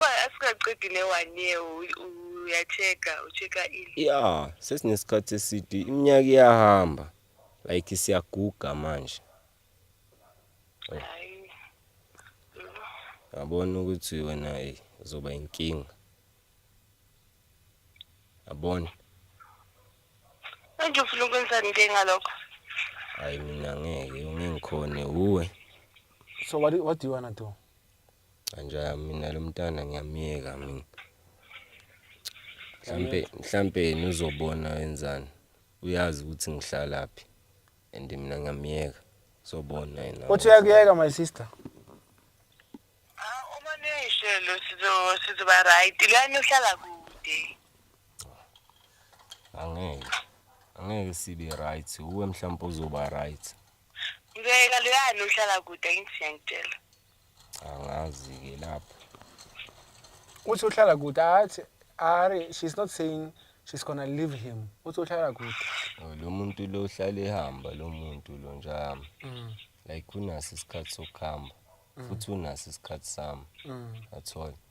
asikaqedile one year uyacheka ucheka ile ya sesinesikhathi eside iminyaka iyahamba like siyaguga manje yabona ukuthi wena hey uzoba inkinga yabona manje ufuna ukwenzani ke ngalokho hayi mina ngeke ungengikhone uwe so what, what do you wanna do Anjaya mina lo mntana ngiyamyeka mina. Mhlampe mhlampe yena uzobona wenzani. Uyazi ukuthi ngihlalaphi and mina ngiyamyeka. Uzobona yena. Uthi uyakuyeka my sister. Uma nishelo sizo sizoba right. Lani uhlala kude. Angeke. Angeke sibe right. Uwe mhlawumbe uzoba right. Ngeke lani uhlala kude ngithiyangitshela. angazi-ke lapho uthi uhlala kude athi ari she's not saying she's gonna leave him uthi uhlala kude Oh, lo muntu lo uhlale ehamba lo muntu lo njalo Mm, like unaso isikhathi sokuhamba futhi unaso isikhathi sami mm, athola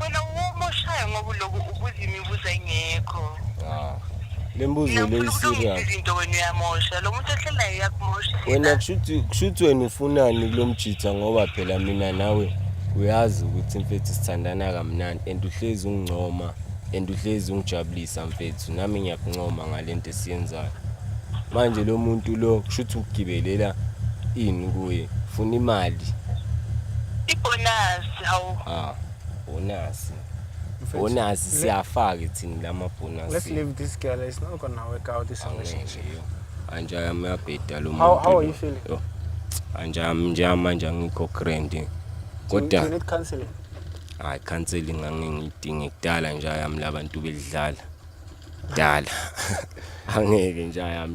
wena umoshaya ngoba uloku ubuza imibuzo engekho ah, le mbuzo le iserious izinto wena uyamosha lo muntu ohlelayo uyakumosha wena kushuthi kushuthi wena ufunani kulomjitha ngoba phela mina nawe uyazi ukuthi mfethu sithandana kamnandi and uhlezi ungcoma and uhlezi ungijabulisa mfethu nami ngiyakuncoma ngalento esiyenzayo manje lo muntu lo kushuthi ugibelela ini kuye funa imali ibonus hawu ah. bonasi bonasi siyafake thina lama bonasi let's leave this girl it's not gonna work out this relationship anje yami yabheda lo muntu how, how are you feeling yo anje yami nje manje angikho grand kodwa you need counseling hayi counseling ngangingidinga kudala nje yami labantu belidlala dala angeke nje yami